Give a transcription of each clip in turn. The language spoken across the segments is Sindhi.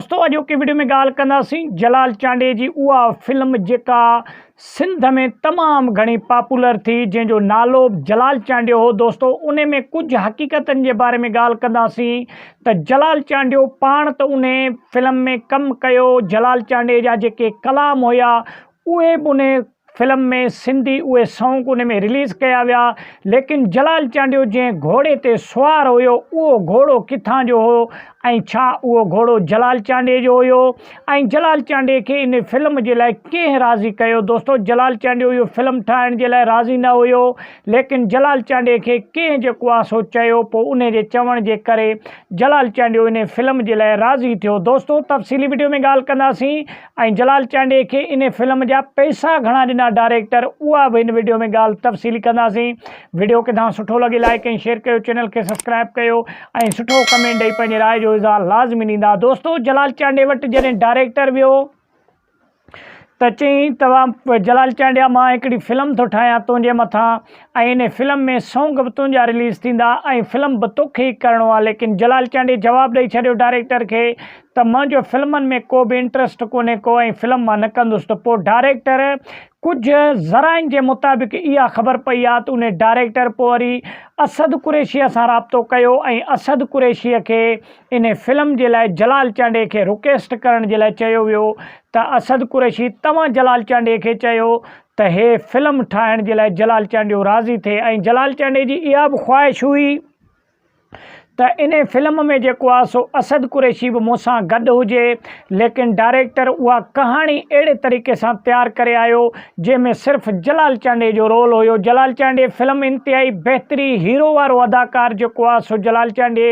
دوستو اڄوڪي وڊيو ۾ ڳالهه ڪنداسين جلال چانڊئي جي اها فلم جيڪا سنڌ ۾ تمام گهڻي پاپولر ٿي جنهن جو نالو جلال چانڊيو هو دوستو ان ۾ ڪجهه حقيقتن جي باري ۾ ڳالهه ڪنداسين ته جلال چانڊيو پاڻ ته ان فلم ۾ ڪم ڪيو جلال چانڊئي جا جيڪي ڪلام هيا اهي به ان فلم ۾ سنڌي اهي سونگ ان ۾ رليز ڪيا ويا ليڪن جلال چانڊيو جنهن گهوڙي تي سوار هيو اهو گهوڙو ڪٿان جو هو ۽ ڇا اهو گهوڙو جلال چانڊيي جو هيو ۽ جلال چانڊيي کي ان فلم جي لاء ڪنهن راضي ڪيو دوستو جلال چانڊيو اهو فلم ٺاهڻ جي لاء راضي نه هيو ليڪن جلال چانڊيي کي ڪنهن جيڪو آ سو چيو پو انهي جي چوڻ جي ڪري جلال چانڊيو انهي فلم جي لاء راضي ٿيو دوستو تفصيلي وڊيو ۾ ڳالهه ڪنداسين ۽ جلال چانڊيي کي ان فلم جا پئسا گهڻا ڏنا ڊائريڪٽر اها به ان وڊيو ۾ ڳالهه تفصيلي ڪنداسين وڊيو ڪٿان سٺو لڳي لائيڪ ۽ شيئر ڪيو چينل کي سبسڪرائيب ڪيو ۽ سٺو ڪمينٽ ڏئي پنهنجي راء جو اظهار لازمي ڏيندا دوستو جلال چانڊيي وٽ جڏهن ڊائريڪٽر ويو ته چيائين ته جلال چانڊيا مان هڪڙي فلم ٿو ٺاهيان تنهنجي مٿان ۽ انهي فلم ۾ سونگ به تنهنجا رليز ٿيندا ۽ فلم به توکي ئي ڪرڻو آ ليڪن جلال چانڊيي جواب ڏئي ڇڏيو ڊائريڪٽر کي ته منهنجو فلمن ۾ ڪو به انٽرسٽ ڪونهي ڪو ۽ فلم مان نه ڪندس ته پوء ڊائريڪٽر ڪجهه ذرائعن جي مطابق اها خبر پئي آ ته انهي ڊائريڪٽر پوء وري اسد قريشيء سان رابطو ڪيو ۽ اسد قريشيء کي انهي فلم جي لاء جلال چانڊيي کي رڪيسٽ ڪرڻ جي لاء چيو ويو ته اسد قريشي توهان جلال چانڊيي کي چيو ته هي فلم ٺاهڻ جي لاء جلال چانڊيو راضي ٿئي ۽ جلال چانڊي جي اها به خواهش هئي ته ان فلم ۾ جيڪو آ سو اسد قريشي به مون سان گڏ هجي ليڪن ڊائريڪٽر اها ڪهاڻي اهڙي طريقي سان تيار ڪري آيو جنهن ۾ صرف جلال چانڊي جو رول هيو جلال چانڊي فلم انتهائي بهتري هيرو وارو اداڪار جيڪو آ سو جلال چانڊي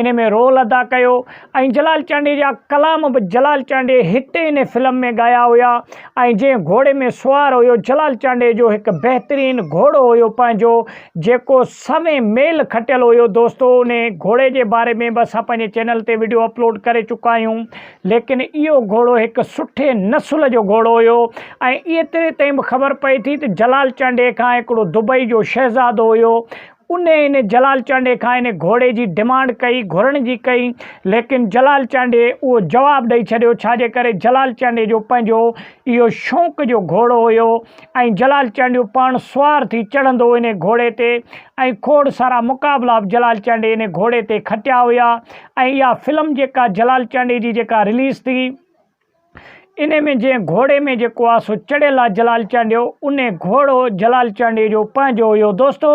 ان ۾ رول ادا ڪيو ۽ جلال چانڊيي جا ڪلام به جلال چانڊيي هتي ان فلم ۾ ڳايا هيا ۽ جنهن گهوڙي ۾ سوار هيو جلال چانڊيي جو هڪ بهترين گهوڙو هيو پنهنجو جيڪو سوين ميل کٽيل هيو دوستو ان گهوڙي جي باري ۾ به اسان پنهنجي چينل تي ويڊيو اپلوڊ ڪري چڪا آهيون ليڪن اهو گهوڙو هڪ سٺي نسل جو گهوڙو هيو ۽ ايتري تائين به خبر پئي ٿي ته جلال چانڊيي کان هڪڙو دبئي جو شهزادو هيو ان ان جلال چانڊيي کان ان گهوڙي جي ڊمانڊ ڪئي، گهرڻ جي ڪئي، ليڪن جلال چانڊيي اهو جواب ڏئي ڇڏيو، ڇا جي ڪري جلال چانڊيي جو پنهنجو اهو شونق جو گهوڙو هيو ۽ جلال چانڊيو پاڻ سوار ٿي چڙهندو ان گهوڙي تي ۽ کوڙ سارا مقابلا به جلال چانڊيي ان گهوڙي تي کٽيا هيا ۽ اها فلم جيڪا جلال چانڊيي جي جيڪا رليز ٿي انهيء ۾ جنهن گهوڙي ۾ جيڪو آ سو چڙهيل آ جلال چانڊيو، انهي گهوڙو جلال چانڊيو جو پنهنجو هيو. دوستو!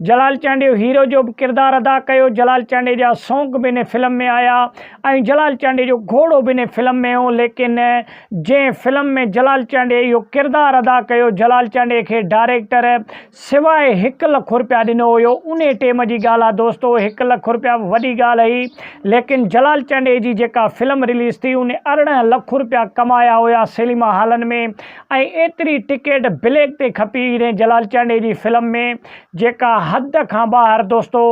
جلال چانڊيو هيرو جو به ڪردار ادا ڪيو، جلال چانڊيو جا سونگ به انهي فلم ۾ آيا ۽ جلال چانڊيو جو گهوڙو به انهي فلم ۾ هو ليڪن جنهن فلم ۾ جلال چانڊيو اهو ڪردار ادا ڪيو، جلال چانڊيو کي ڊائريڪٽر سواء هڪ لک رپيا ڏنو هيو. انهي ٽيم جي ڳالهه آ دوستو هڪ لک رپيا به وڏي ڳالهه هئي ليڪن جلال چانڊئي جي جيڪا فلم رليز ٿي ان ارڙهن لک رپيا ڪمايا هيا سيليما هالن ۾ ۽ ايتري ٽڪيٽ بليڪ تي کپي انهي جلال چانڊئي جي فلم ۾ جيڪا حد کان ٻاهر دوستو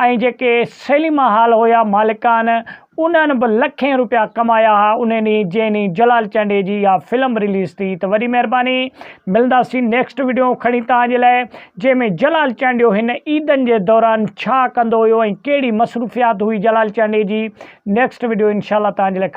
۽ جيڪي سيليما هال هيا مالڪان انهن به لکين روپيا ڪمايا ها انهي ڏينهن جنهن ڏينهن جلال چانڊئي جي اها فلم رليز ٿي ته وڏي مهرباني ملنداسين نيڪسٽ وڊيو کڻي توهان جي لاء جنهن ۾ جلال چانڊيو هن عيدن جي دوران ڇا ڪندو هيو ۽ ڪهڙي مصروفيات هئي جلال چانڊئي جي نيڪسٽ وڊيو انشاء الله توهان جي لاء کڻي